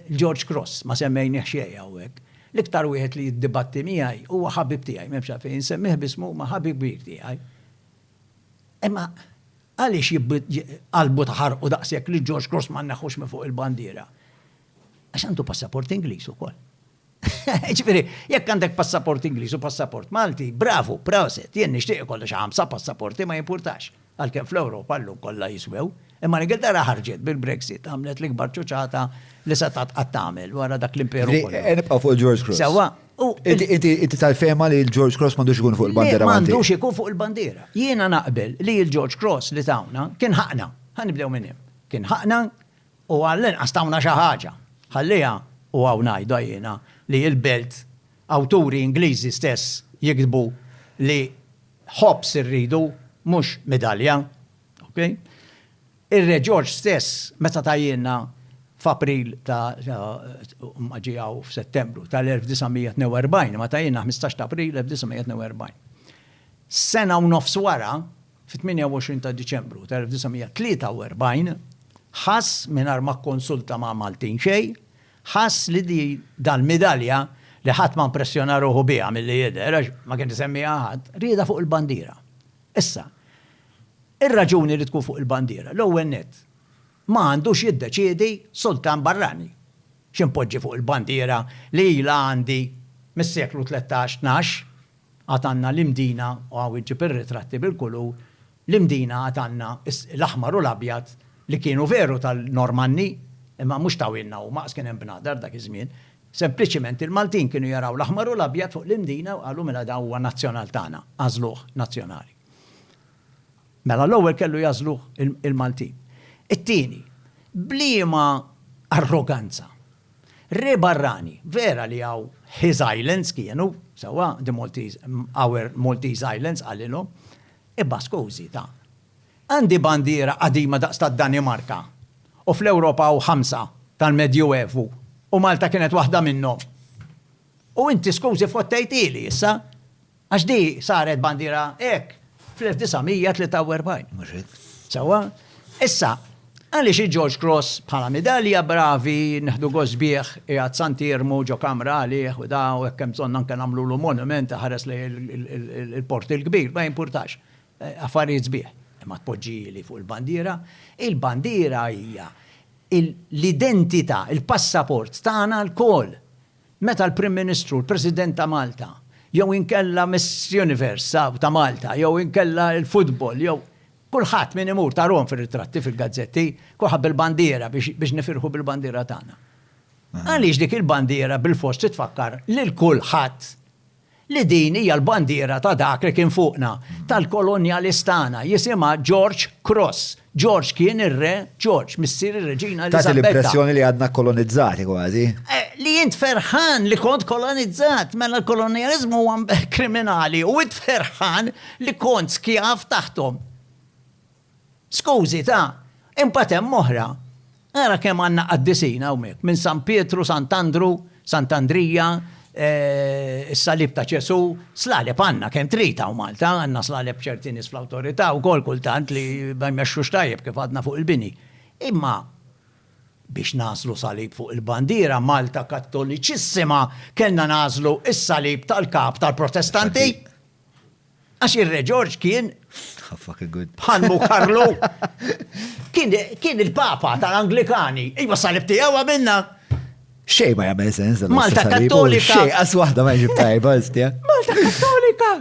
George Cross, ma semmejnieh xejn hawnhekk. L-iktar wieħed li jiddibatti miegħi huwa ħabib tiegħi, m'hemmx għalfejn insemmih b'ismu imma ħabib kbir tiegħi. Imma għaliex qalbu taħarqu daqshekk li George Cross ma nneħħux minn fuq il-bandiera? Għax għandu passaport Ingliż ukoll. Ġifieri, jekk għandek passaport Ingliż u passaport Malti, bravu, proset, jien nixtieq ikolli xi ħamsa passaporti ma jimpurtax, għalkemm fl-Ewropa llum kollha jiswew. Imma l-Ingilterra ħarġet bil-Brexit, għamlet l-ikbar ċuċata li setgħet qatt tagħmel wara dak l-imperu Ġifieri, kollu. eh, nibqgħu fuq il-George Cross. Sewwa, u Inti- Inti inti tal-fehma li l-George Cross m'għandux ikun fuq il-bandiera Ma Malti. għandux ikun fuq il-bandiera. Jiena naqbel li l-George Cross li tawna kien ħaqna. Ħa nibdew minn hemm. Kien ħaqna U għallinqas tawna xi ħaġa. Ħalliha, u hawn ngħidha jiena, li il-belt, awturi Ingliżi stess jiktbu li ħobż irridu, mhux midalja. Ok? Ir-Re Ġorġ stess meta tgħajjilna f'April ta' ma ġie hawn f'Settembru tal-1942, imma tgħajjilna ħmistax t'April 1942. Sena u nofs wara, Fit-28 ta' Diċembru ta' 1943, ħass, mingħajr ma kkonsulta ma' Maltin xejn, ħass li di dal-midalja li ħadd ma mpressjona ruħu biha milli jidher għax ma kien isemmiha ħadd, riedha fuq il-bandiera. Issa, ir-raġuni li tkun fuq il-bandiera, l-ewwel nett, ma għandux jiddeċiedi sultan barrani x'inpoġġi fuq il-bandiera li ilha għandi mis-seklu tlettax, tnax. Għad għandna l-Imdina, u hawn iġġib ir-ritratti bil-kulur, l-Imdina għad għandna l-aħmar u l-abjad li kienu veru tal-Normanni, imma mhux tawhielna huma għax kien hemm bnadar dak iż-żmien. Sempliċiment il-Maltin kienu jaraw l-aħmar u l-abjad fuq l-Imdina u qalu mela dan huwa nazzjonal tagħna, għażluh nazzjonali. Mela l-ewwel kellu jagħżluh il-Maltin. It-tieni, b'liema arroganza Re barrani, vera li hawn his islands kienu, sewwa, the Maltese, our Maltese islands, qalilhom. Imma skużi, ta. Għandi bandiera qadima daqs tad-Danimarka u fl-Ewropa hawn ħamsa tal-Medjuevu u Malta kienet waħda minnhom. U inti skużi fottejthieli issa? Għax di saret bandiera hekk fl-1943, mhux hekk? Sewwa? Issa, għaliex il-George Cross bħala midalja bravi neħdu gost bih qiegħed Sant'Iermu ġo kamra għalih u da u hekk hemm bżonn anke nagħmlulu monument iħares lejn il-Port il-Kbir, ma jimpurtax. Affarijiet sbieħ. Imma tpoġġihieli fuq il-bandiera? Il-bandiera hija l-identità, il-passaport tagħna lkoll. Meta l-Prim Ministru, l-President ta' Malta, jew inkella Miss Universe ta' Malta, jew inkella l-futbol, jew kulħadd min imur tarhom fir-ritratti fil-gazzetti, kulħadd bil-bandiera biex nifirħu bil-bandiera tagħna. Għaliex dik il-bandiera bilfors titfakkar lil kulħadd li din hija l-bandiera ta' dak li kien fuqna, tal-kolonjalis tagħna, jisimha George Cross. George kien ir-Re George, missier ir-Reġina Eliżabetta. Tagħti l-impressjoni li għadna kkolonizzati kważi. Li int ferħan li kont kolonizzat, mela l-kolonjaliżmu huwa kriminali u int ferħan li kont skjav taħthom. Skużi, ta, imbagħad hemm oħra. Ara kemm għandna qaddisin hawnhekk, minn San Pietru, Sant'Andru, Sant'Andrija, is-Salib ta' Ġesù, slaleb għandna kemm trid hawn Malta, għandna slaleb ċerti nies fl-awtorità wkoll kultant li ma jmexxux tajjeb kif għadna fuq il-bini. Imma biex nagħżlu salib fuq il-bandiera Malta Kattoliċissima kellna nagħżlu s-salib tal-Kap tal-Protestanti! Għax ir-Re Ġorġ kien bħal mu Karlu. Kien il-Papa tal-Anglikani. Iva salib tiegħu għamilna. Xej ma jagħmel sens. Malta Kattolika. Xej għas waħda ma jġib tajba, istja. Malta Kattolika.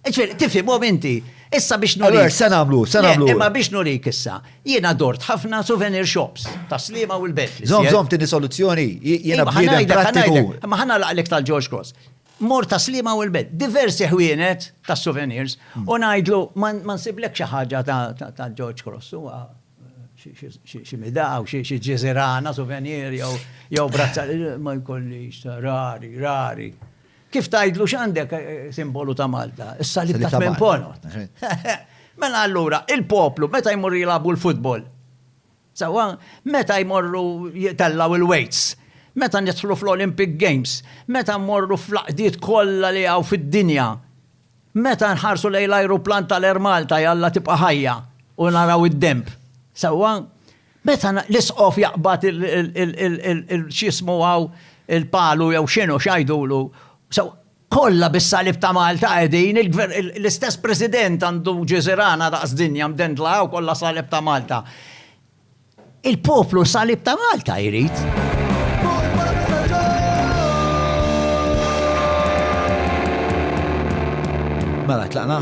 Ġifieri, tifhimhom inti. Issa biex nurik. Se nagħmlu, se nagħmlu. Imma biex nurik issa, jiena dort ħafna souvenir shops ta' slima u l-bet. Zom, zom, tini soluzzjoni, jiena bħalek. Ma ħana laqlek tal-George Cross. Mort għas-Sliema u l-Belt, diversi ħwienet ta' souvenirs u ngħidlu ma nsiblekx xi ħaġa ta' George Cross, huwa xi midaw, xi ġiżirana souvenir jew brazza, ma jkollix, rari, rari. Kif tgħidlu x'għandek simbolu ta' Malta? Is-salib ta' Tmien Ponot. Mela allura, il-poplu meta jmur jilagħbu l-futbol, Sewwa, meta jmorru jitellgħu il-weights, meta nidħlu fl-Olympic Games, meta mmorru fl-għaqdiet kollha li hawn fid-dinja, meta nħarsu lejn l-ajruplan tal-Air Malta, jalla tibqa' ħajja, u naraw id-denb. Sewwa? Meta l-Isqof jaqbad il-, x'jismu hawn, il-palu jew x'inhu, x'għidulu, sewwa? Kollha bis-salib ta' Malta qegħdin, l-istess President għandu ġiżirana daqs dinja mdendla u kollha salib ta' Malta. Il-poplu salib ta' Malta jrid. Mela, tlaqna.